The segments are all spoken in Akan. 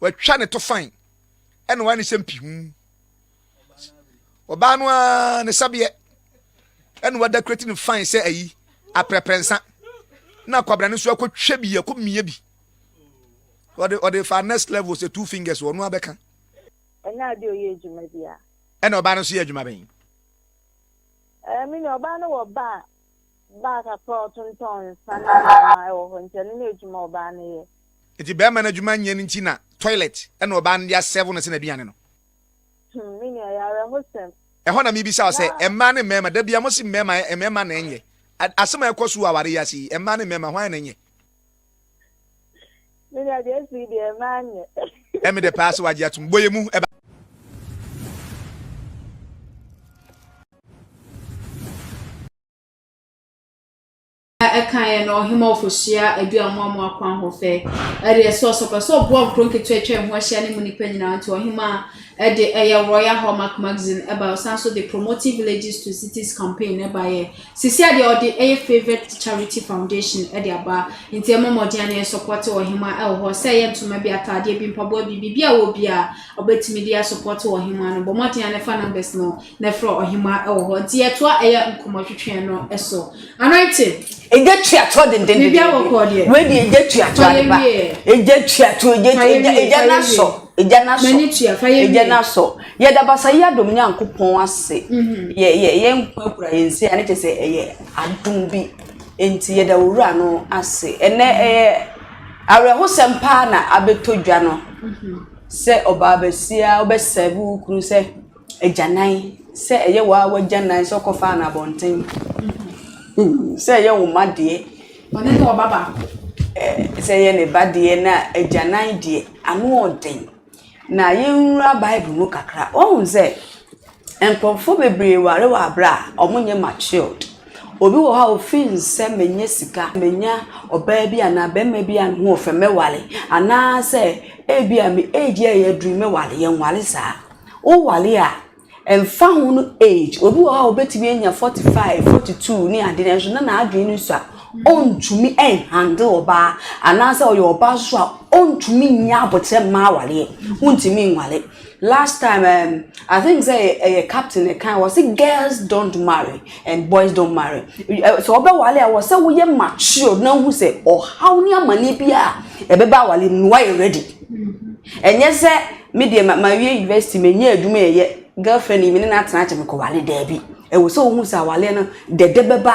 Watwa ne to fann ɛna wa ne sɛ mpi ho. Ɔbaa no ara ne sabeɛ ɛna wa dekorati ne fann sɛ ayi aprɛprɛ nsa. Na kwabra no nso akɔ twɛ bi akɔ mia bi. Ɔde ɔde fa next level sɛ two fingers ɔno abɛka. Ɛnyɛ adeɛ ɔyɛ adwuma bi a. Ɛna ɔbaa no nso yɛ adwuma bɛn? Ɛɛ mini ɔbaa no wɔ ba a. baa kakra a ɔtontɔn nsa ne nneɛma wɔ hɔ nti ɛno ne adwuma a ɔbaa no yɛ. Nti bɛɛma no adwuma nyɛ no nti na toilet na ɔbaa no de asɛvo no sɛ n'aduane no. Hmm me nua ɛyɛ awerɛhosɛm. Ɛhɔ na mebisa wo sɛ mmaa ne mmarima da biara mose mmarima mmarima na ɛnyɛ asɛm a ɛkɔ so wɔ aware yi ase yi mmaa ne mmarima hwan na ɛnyɛ. Menya Jesu yi deɛ ɛmaa nyɛ. Ɛmi de paa sɛ wagye atum bɔ yɛ mu ɛba. ɛkaeɛ no ɔhema ɔfohyia adu amoamoa kwan hɔ fɛ ɛdeɛ sɛ ɔsɔpɛ sɛ ɔboa nkuro nketewa atwa ɛho ahyia ne mu nnipa nyinaa nti ɔhema ɛde ɛyɛ royal hallmark magazine ɛba ɔsan so de promoting villages to cities campaign ɛbaeɛ Sisia deɛ ɔde ɛyɛ favored charity foundation ɛde aba nti ɛmɔ mɔden ane ɛsɔpɔte ɔhema ɛwɔ hɔ sɛ ɛyɛ ntoma bi ataadeɛ bi mpaboa bi biribi a wɔ bia ɔbɛtumi de asɔpɔte ɔhema no bɔ mɔden ane fa numbers no na ɛfrɛ ɔhema ɛwɔ hɔ nti yɛtoa ɛyɛ nkɔmɔ twetwee no ɛso anointing Egya twa toɔ dendenden. Biribi awɔ kɔɔ deɛ. Wei deɛ egya twa toɔ Fa yɛ adepa. wie. Egya twa toɔ egya Fa yɛ egya wie, egya fa yɛ n'asɔ. wie. Egya n'asɔ. M'ani tua, fa yɛ Egya wie. n'asɔ. Yɛda Basayi Adom Nyankopɔn ase, yɛ yɛ yɛn nkwa kura yɛn nsa a ne kyɛ sɛ ɛyɛ adom bi, enti yɛda Owura no ase. Ɛnɛ ɛyɛ awerɛhosɛm paa na abɛtɔ dwa no sɛ ɔbaa basia wobɛsɛɛve wo kunu sɛ agyanan, sɛ ɛyɛ wo a w'agyanan sɛ ɔkɔfaa no abɔnten, sɛ ɛyɛ wo ma deɛ, Ɔne ne ɔba baako. ɛɛ, sɛ ɛyɛ ne ba deɛ na agyanan deɛ ano ɔden. na yɛnwura Bible mu kakra. Woahu sɛ, nkurɔfo bebree ware wɔ aberɛ a wɔnyɛ matured. Obi wɔ hɔ a ɔfiri no sɛ mɛnya sika, mɛnya ɔbaa bi anaa barima bi a ne ho yɛ fɛ mɛware anaasɛ ebia me age a yɛaduru yi mɛware. Yɛnware saa. Woware a, Ɛmfa ho no age, obi wɔ hɔ a obetumi anya 45, 42 ne ade nanso na n'adwene no sua, ɔntumi ɛnhandle ɔbaa anaasɛ ɔyɛ ɔbaa nso a ɔntumi nyɛ aboterɛ mma awareɛ, wontumi nware. Last time um, I think sɛ ɛyɛ captain na ɛkae wɔse girls don't marry and boys don't marry. Sɛ wɔbɛware a wɔ sɛ woyɛ matured na wohu sɛ ɔhaw ne amane bi a ɛbɛba aware mu no woayɛ ready. Ɛnyɛ sɛ me deɛ ma mawie university manya adwuma ɛyɛ girl friend yi me ne no atena akyɛ me kɔ wale daabi ɛwɔ sɛ wohu sɛ awaleɛ no dɛdɛ bɛba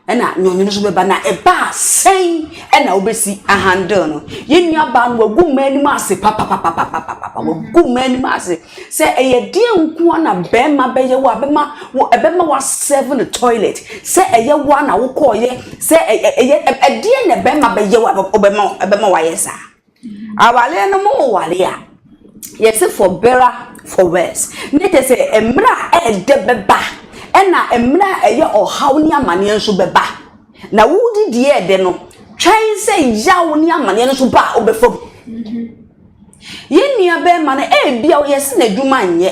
ɛna nyɔnyono so bɛba na ɛbaa sɛn ɛna wobɛsi ahandle no yɛ nua baa no wagu mmaa anim ase papapapapapapa wagu mmaa anim ase sɛ ɛyɛ deɛ nkoa na bɛrima bɛyɛ wo a bɛma wo ɛbɛma wa serve no toilet sɛ ɛyɛ wo a na wokɔɔyɛ sɛ ɛyɛ ɛdeɛ na bɛrima bɛyɛ wo a ɔbɛma ɛbɛma wayɛ saa Awareɛ no mu ware a yɛse for better for worse ne kyɛ sɛ mmerɛ a ɛɛdɛ bɛba ɛna mmerɛ a ɛyɛ ɔhaw ne amaneɛ nso bɛba na wodi deɛ ɛɛdɛ no twɛn sɛ yaw ne amaneɛ no nso ba a wobɛfa mu yɛn nua bɛɛma no ɛɛbia ɔyɛse n'adwuma nyɛ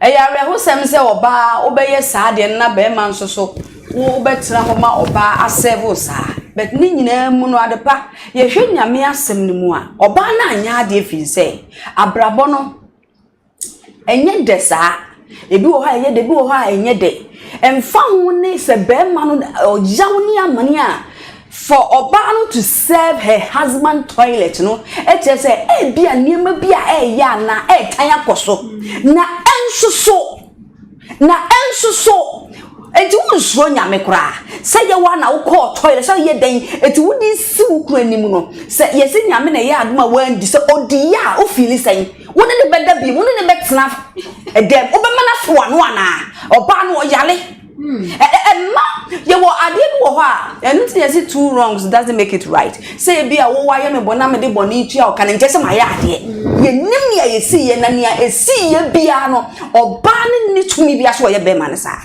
Ɛyɛ awerɛhosɛm sɛ ɔbaa wobɛyɛ saa adeɛ no na barima nso so wobɛtena hɔ ma ɔbaa asɛve wo saa. But ne nyinaa mu no ade pa, yɛhwɛ Nyame asɛm no mu a, ɔbaa no anyɛ adeɛ firi sɛ abrabɔ no ɛnyɛ dɛ saa. Ebi wɔ hɔ a ɛyɛ dɛ, ebi wɔ hɔ a ɛnyɛ dɛ. Ɛmfa ho ne sɛ barima no ɔyaw ne amane a, For ɔbaa no to serve her husband toilet no kyerɛ sɛ ebia nneɛma bi a ɛreyɛ anaa ɛretan akɔ so na ɛnsoso, na ɛnsoso. Enti wonsuro Nyame koraa. Sɛ yɛ woa na wokɔɔ toilet, sɛ yɛ dɛn, enti wode si wo kunu anim no, sɛ yɛse Nyame na ɛyɛɛ adom a woandi, sɛ ɔdiiɛ a, wo feeli sɛn? Wo ne no bɛda biom? Wo ne no bɛtena dɛm? Wobɛma no afoa ano anaa? Ɔbaa no ɔyare. Hmm. ɛma yɛwɔ adeɛ bi wɔ hɔ a ɛno nti na yɛsi two wrongs doesn't make it right sɛ ebi a wɔwɔ ayɛ me bɔ na mede bɔ ne tua ɔka no nkyɛ sɛ mayɛ adeɛ hmm. yɛnim nea yɛsi yɛ na nea esi yɛ biara no ɔbaa no nni tumi bi aso ɔyɛ bɛrima no saa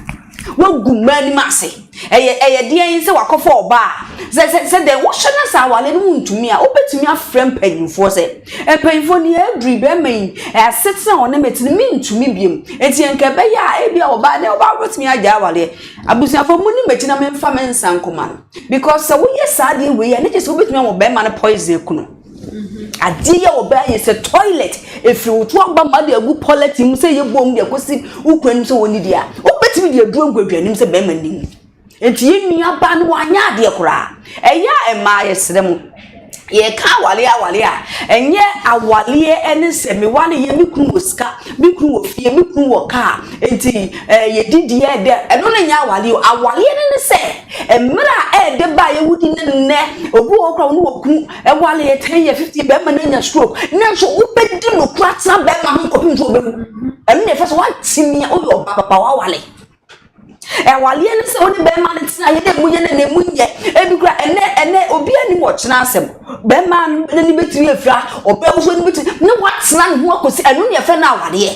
wagu mmaa anim ase ɛyɛ ɛyɛ deɛ yi sɛ wakɔfɔ ɔbaa sɛ sɛ sɛ deɛ wohyɛ na saa awale no mu ntumi a wobɛtumi afrɛ mpanyinfoɔ sɛ. Mpanyimfo no, yɛn bere yi, bɛrima yi, asetena a ɔne me te no, mintumi bio. Enti anka ɛbɛyɛ a, ebia ɔbaa ne ɔbaa betumi agyae awareɛ. Abusuafo, mo ni m'akyi na memfa me nsa nkɔma no. Because sɛ woyɛ saa adeɛ wei a, ɛno kyerɛ sɛ wobetumi ama ɔbarima no poison aku no. Mm-hmm. Adeɛ yi a ɔbaa yɛ sɛ toilet, efiri wotu aba ma de agu polythene mu sɛ yɛ bom de akosi wokura nim sɛ wɔn ni deɛ a, wobetumi de aduro agu aduanim sɛ bɛrima nim. nti yɛn nua ba no wanyɛ adeɛ koraa ɛyɛ a mmaa yɛsrɛ mo yɛka awale awale a ɛnyɛ awaleɛ ɛne sɛ mewa ne yɛ me kunu wɔ sika me kunu wɔ fie me kunu wɔ kaa nti ɛɛ eh, yɛdi deɛ ɛdɛ ɛno ne nyɛ awaleɛ o awaleɛ ne ne sɛ mmerɛ a ɛɛdɛ ba a yɛwodi ne nnɛ obi wɔ kora ɔno wɔ kunu ɛwale yɛ ten yɛ fifty bɛrima no anya stroke nanso wobɛdi no kora tena bɛrima ho kɔpem so ɔbɛwu ɛno ne ɛfɛ sɛ woatimi a woyɛ ɔba papa wawale Ɛwaleɛ ne sɛ wo ne bɛrima no tena yɛ dɛ emu yɛ na na emu nyɛ. Ebi kora ɛnɛ ɛnɛ obiara nim ɔkyena asɛm. Bɛrima n'ani betumi afira, ɔbaa nso ani betumi na watena ne ho akɔsi ɛno na yɛfrɛ no awadeɛ.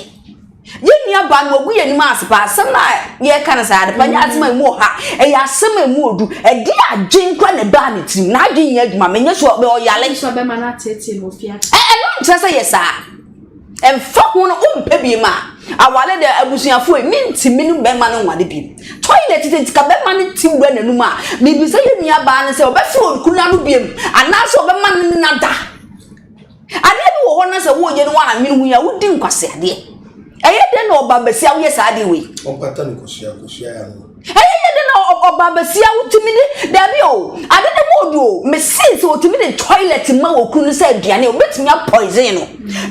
Yɛn nua baa no wagu yɛn anim ase paa asɛm no a yɛreka no saa ade pa nyɛ asɛm a emu wɔ ha. Ɛyɛ asɛm a emu wɔ du. Ɛde adwene kora na ɛbaa ne tirim. N'adwene nyɛ adwuma menyɛ sure ɔyare. Ɛno nkyerɛ sɛ yɛ saa. Ɛmfa ho no wompɛ biem a, aware de abusuafo ei, mintumi ne bɛma no nware biem. Toilet de sika bɛma no ti wura n'anum a, mibisa yɛn nua baa no sɛ ɔbɛfrɛ okunu ano biem anaasɛ ɔbɛma no nna da. Adeɛ bi wɔ hɔ na sɛ woyɛ no woannwene ho yi a wodi nkwaseadeɛ. Ɛyɛ dɛn na ɔbaa basia woyɛ saa adeɛ wei? Ɔmpata no kosua kosua yɛ ano. Ɛyɛ yɛ dɛ na ɔbaa basia wotumi de daabi o ade no mu odu o mesee sɛ otumi de toilet ma wɔ kunu no sɛ aduane obetumi a poison no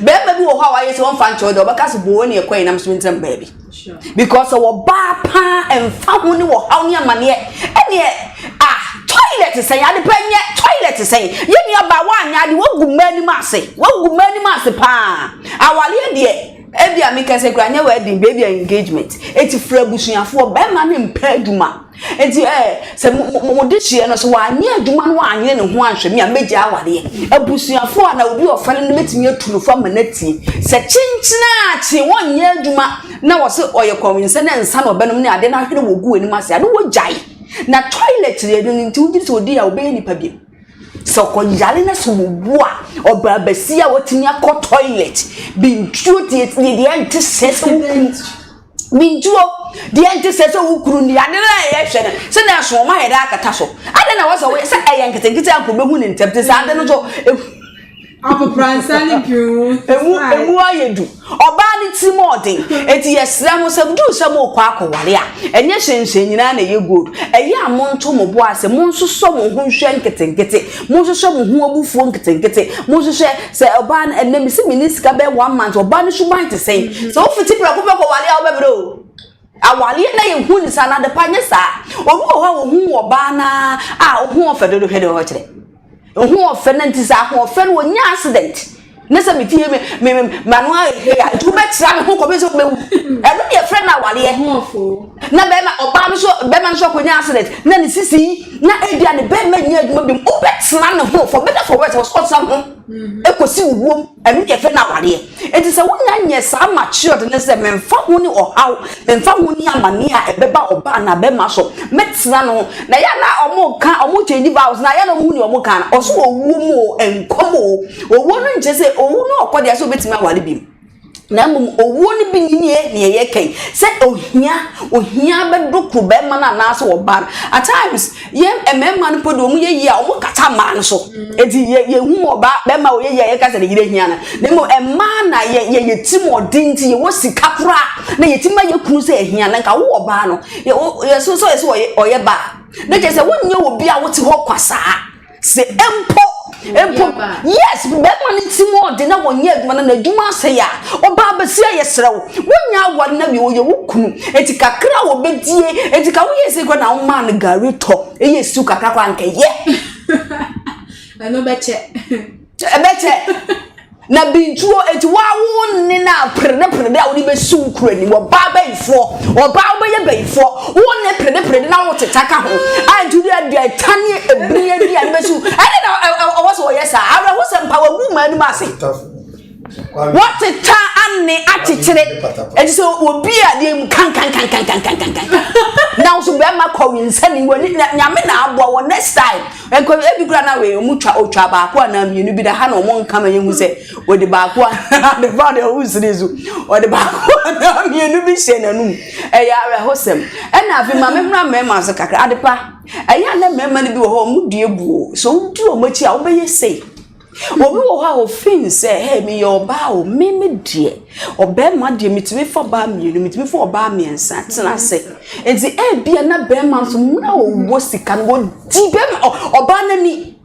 bɛrima bi wɔ hɔ a wayɛ sɛ ɔmfa nkyɛw dɛ ɔbɛka sɛ boo ne ɛkɔ yɛnam so ntina mu baabi because sɛ wɔbaa paa ɛmfa ho ne wɔ haw ne amaneɛ ɛneɛ ah toilet sɛn ade pɛ nyɛ toilet sɛn yɛ nua baa woanyɛ ade woagu mmaa anim ase woagu mmaa anim ase paa awaleɛ deɛ Ebia me kɛse kura nyɛ wedding bɛ ebia engagement eti fura abusuafoɔ bɛrima ne mpɛ adwuma eti ɛɛ eh, sɛ mo mo mo de hyia no so wanyɛ adwuma no wanyɛ ne ho anhwɛ mi a mɛgya awadeɛ abusuafoɔ a na obi ɔfɛre no bɛtumi atu no fa ma n'atie sɛ kyenkyenaakye wɔnyɛ adwuma na wɔsɛ ɔyɛ kɔnwinsɛ ne nsa na ɔbɛnom ne adeɛ no ahwene wɔ gu anim ase a na wɔgyae na toilet yɛ no nti wogye sɛ odi a ɔbɛyɛ nipa bi. Sɛ ɔkɔyare na sɛ owu a, ɔbaa basia a watumi akɔ toilet. Bintuo deɛ deɛ deɛ nte sɛ sɛ wokuru. Bintuo deɛ nte sɛ sɛ wokuru ni ade no a yɛhwɛ no sɛ na ɛso ɔma yɛde akata so. Ade na wɔsɛ wɔyɛ sɛ ɛyɛ nketenkete a nkurɔfoɔ bɛhu ne ntɛm te sɛ ade no so. Akopransa ne dwene wo. Emu emu ayɛ du. Ɔbaa ne tiri mu ɔden. Eti yɛsrɛ mo sɛ duru sɛ mo rekɔ akɔware a, ɛnyɛ hyɛnhyɛn nyinaa na ɛyɛ gold. Ɛyɛ a monto mo bo ase, monsosɔ mo ho nhwɛ nketenkete, monhwehwɛ mo ho abufuo nketenkete, monhwehwɛ sɛ ɔbaa no ɛnɛ mesi menni sika bɛyɛ one month, ɔbaa no suban te sɛn? Mm-hmm. Sɛ wofiti prɛko pɛ kɔware a wobɛbrɛ o. Awareɛ na yɛ hu ne saa na adepa nyɛ saa. Obi wɔ hɔ a wɔhu wɔ baa naa a ɔho ɔfɛ dodo hwɛ deɛ ɔkyerɛ. Ahoɔfɛ na nti sɛ ahoɔfɛ no ɔnya accident ne sɛ me fie me mano ayɛ hwɛ a nti wobɛtra me ho kɔpɛ sɛ wobɛwu ɛno ne yɛfrɛ no awareɛ na bɛrima ɔbaa no so bɛrima no so akɔnya accident na ne sisi na ebi a ne bɛrima nyɛ adwuma bi mu wobɛtra ne ho for better for worse wɔsɛ ɔtra ho ɛkɔsi wuwom ɛno ne yɛfrɛ no awareɛ Enti sɛ wonya nyɛ saa matured ne sɛ memfa ho ne ɔhaw, memfa ho ne amaneɛ a ɛbɛba ɔba anaa bɛrima so, mɛtena no ho. Na ɛyɛ a na wɔka, wɔn change vows no a, ɛyɛ a na wɔhu deɛ wɔka no. Ɔse owuo mu o, nkwa mu o, owuo no nkyerɛ sɛ owu na ɔkɔ deɛ sɛ obɛtumi aware bio. Na mmom owuo no bi nie deɛ yɛka yi, sɛ ohia, ohia bɛdokoro bɛrima no anaasɛ ɔba no. At times, Yɛn mmarima no mpo de wɔn yɛ yie a wɔkata mmaa no so. Eti yɛ yɛhu ɔbaa barima a ɔyɛ yie a yɛka sɛ ne yere hia no. Na mmom mmaa na yɛ yɛ yɛ ti mu ɔden nti yɛwɔ sika koraa na yɛtumi ma yɛ kunu sɛ ahia na nka wo ɔbaa no yɛ wo yɛso sɛ ɔyɛ sɛ ɔyɛ ɔyɛ ba a na kyerɛ sɛ wonyɛ obi a wote hɔ kwa saa. sɛ mpo mpo yes bɛrima no ti mu ɔde na wɔnyɛ adwuma no na adwuma asɛe a ɔbaa bɛsi ayɛ serɛ wo wonya aware na wie wɔyɛ wo kunu enti kakra a wɔbɛdie enti ka woyɛ sɛ kora na womaa no gari tɔ ɛyɛ siw kakra kora nkɛyɛ ɛno bɛkyɛ Ɛbɛkyɛ na bintuo enti waa wo ne no a peredeperede a wode bɛsi wo kura ni wɔbaa bɛyifoɔ ɔbaa wobɛyɛ bɛyifoɔ wo ne peredeperede na woteta ka ho a nti wode adeɛ ɛta ne ɛbiri adi a ne bɛsi wo ɛne na ɔwɔ sɛ wɔyɛ saa awerɛho sɛ mpa wagu ma anim ase wɔteta anne akyekyere ɛti sɛ obi adeɛ mu kankankankankankankan na wo so bɛrima kɔwe nsɛne w'ani nyame na aboa wɔ next time Nkɔ bi ebi kura na wei ɔmo twa otwa baako anaa mmienu bi da ha na ɔmo nka ma yɛn hu sɛ ɔde baako anaa de fa de ɔmo siri so ɔde baako anaa mmienu bi hyɛ n'anum ɛyɛ awerɛhosɛm ɛna afi ma me mura mmarima so kakra adepa ɛyɛ anɛ mmarima no bi wɔ hɔ ɔmo dua buo so wodi ɔmo akyi a wobɛyɛ sei. Obi wɔ hɔ a ɔfiili sɛ hɛɛ meyɛ ɔbaa o, me me deɛ ɔbɛɛma deɛ metumi fa ɔbaa mmienu, metumi fa ɔbaa mmiɛnsa tena ase. Enti ebia na bɛɛma nso mmerɛ a ɔwɔ sika no ɔdi bɛɛma ɔbaa no ani.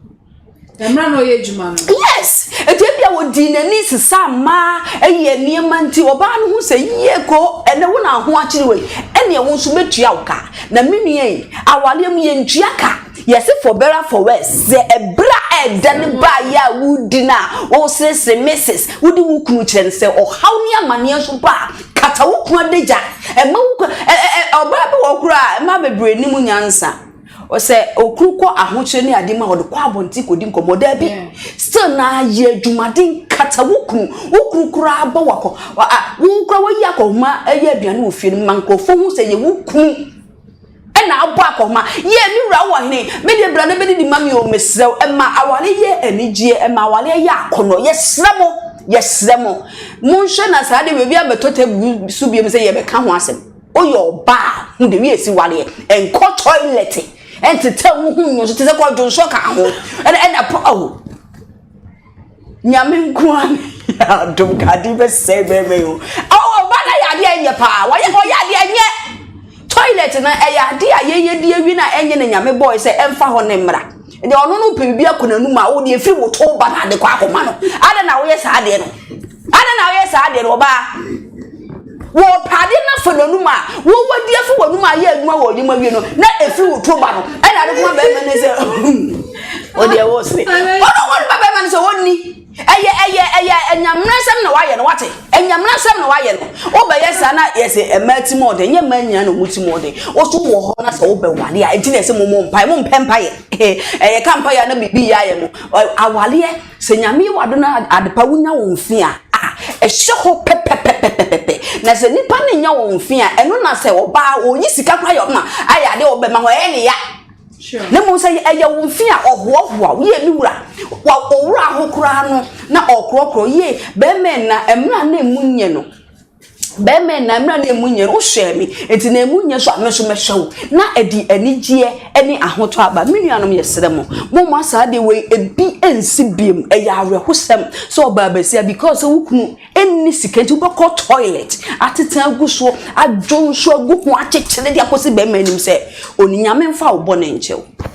Mmerɛ na ɔyɛ adwuma no. Yes, enti ebia ɔdii n'ani sesa mmaa ɛyɛ nneɛma nti ɔbaa no ho sɛ yie ko ɛnɛ wo na ho akyere wei ɛnneɛ wo nso mɛtua wo ka. Na me nua yi awareɛ mu yɛntua ka. Yɛse for better for worse, sɛ ɛberɛ a ɛɛdɛ no baeɛ a woredi no a, woresresre, Mrs. Wode wo kunu kyerɛ no sɛ ɔhaw ne amaneɛ nso ba a, kata wo kunu adagya. Ɛma wo kunu, ɛ ɛ ɛ ɔbaa bi wɔ hɔ koraa a, mmaa bebree nnim nyansa. Sɛ okunu kɔ ahokyerɛ ne adeɛ mu a, ɔde kɔ abɔnten kɔdi nkɔmmɔ. Daabi, still no ara yɛ adwumaden, kata wo kunu. Wo kunu koraa bɔ wo akɔ, a wo koraa woayi akɔhoma yɛ aduane wɔ fie no ma nkurɔfoɔ hu sɛ ɛyɛ wo kunu. Ɛnna abɔ akɔma. Yie, me wura ɔhene, me deɛ bra na bɛdidi ma me o, mesrɛ wo. Ɛma awareɛ yɛ anigyeɛ, ɛma awareɛ yɛ akɔnnɔ. Yɛsrɛ mo, yɛsrɛ mo, monhwɛ na saa adeɛ wei obi ammɛtɔ table so biom sɛ yɛbɛka ho asɛm. Woyɛ ɔbaa a, hu deɛ wie si wareɛ. Nkɔ toilet, ntetɛ wo ho nnyina so te sɛ kwadwonso ka ho. Ɛnna, ɛnna, oh. Nyame nkoa ne yɛ adom ka ade bɛsɛe bɛrima yi ho awo ɔba no ayɛ ade a ɛnyɛ paa wɔyɛ ɔyɛ ade a ɛnyɛ toilet no ɛyɛ ade a yɛyɛ di awie no a ɛnyɛ na nyame bɔe sɛ ɛmfa hɔ ne mmra deɛ ɔno no pɛ biribi akɔ n'anum a wodeɛ firi wo to ba no ade kɔ akɔma no adɛn na woyɛ saa adeɛ no Adɛn na woyɛ saa deɛ no ɔbaa? Wɔpɛ adeɛ no afa n'anum a wɔwɔ di afa w'anum a yɛ adwuma wɔ adwuma wie no na ɛfiri wo to ba no ɛna ade koma bɛrima no sɛ ɔdeɛ wɔ sere ɔno wɔn ba bɛrima no sɛ wɔnni ɛyɛ ɛyɛ ɛyɛ ɛnyamena nsɛm na wayɛ no wate ɛnyamena nsɛm na wayɛ no wobɛyɛ saa na yɛsɛ ɛmaa ti mu ɔden nyɛ mmaa nyinaa na ɔmu ti mu ɔden woso wɔ hɔ na sɛ wobɛwale a ɛti na ɛsɛ mo mo mpae mo mpɛ mpaeɛ ɛyɛ ka mpaeɛ na biribi yɛ ayɛ mo awaleɛ Sɛ Nyame yɛ w'adom na adepa wonya wo mfe a, ah, ɛhyɛ hɔ pɛpɛpɛpɛpɛpɛ. Na sɛ nipa no nya wɔn mfe a, ɛno na sɛ ɔbaa ɔyi sika kora yɛ ɔma ayɛ adeɛ ɔbɛma hɔ ɛyɛ ne ya. Na mmom sɛ ɛyɛ wo mfe a ɔhoahoa wo yie me wura wa ɔwura ho koraa no na ɔkorɔkorɔ yie bɛrima na mmra na emu nyɛ no. Bɛɛma nna mmerɛ na ɛmu nyɛ no wohwɛɛ me nti na ɛmu nyɛ so a me nso mɛhwɛ wo na ɛde anigyeɛ ɛne ahotɔ aba me nuanom yɛsrɛ mo momma saa adeɛ wei ebi ɛnsi biom ɛyɛ awerɛhosɛm sɛ ɔbaa basia because sɛ wo kunu ɛnni sika nti wobɛkɔ toilet atete agu soɔ adwo nso agu ho akyekyere de akɔsi bɛɛma anim sɛ ɔni nyame mfa wo bɔne nkyɛw.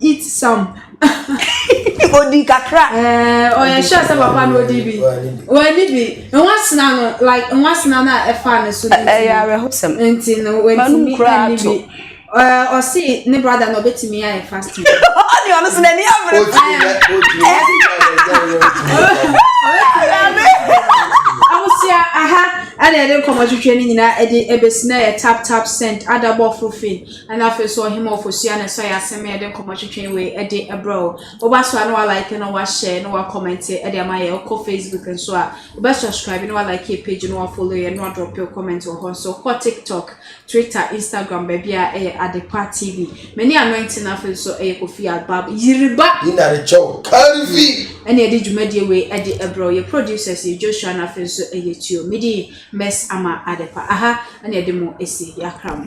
eat some. odi kakra. ɛɛ ɔyɛ sure sɛ papa no odi bi wani bi nwasena no like nwasena no a ɛfa ne so no ɛyɛ awerɛhosɛm nti no wantumi ani bi ɔsi ne brada na ɔbɛtumi ayɛ fasting. ɔdi ɔno so n'ani abere. o ti mi yɛ o ti mi yɛ o ti mi yɛ. ahosia aha ɛna yɛde nkɔmɔ twitwi ne nyinaa ɛde ɛbɛsi na yɛ tap tap send adabɔ fofin. Ɛna afei so ɔhema ɔfosua na ɛsɔ yɛ asɛm yɛde nkɔmɔ twetwe wei ɛde ɛbrɛ o woba so a na wa like na wa share na wa comment ɛde ama yɛ ɔkɔ facebook nso a wobɛ subscribe na wa like yɛ page na wa follow yɛ na wa drop your comment wɔ hɔ nso kɔ tiktok twitter instagram baabi a ɛyɛ adepa tv mani anointing na afei so ɛyɛ kofi abab yiriba yinare kyɛw kanvi ɛne ɛde dwumadie wei ɛde ɛbrɛ o yɛ producers yɛ joshua na afei so ɛyɛ tuo midi miss ama adepa aha ɛne ɛde mo esi yakra mo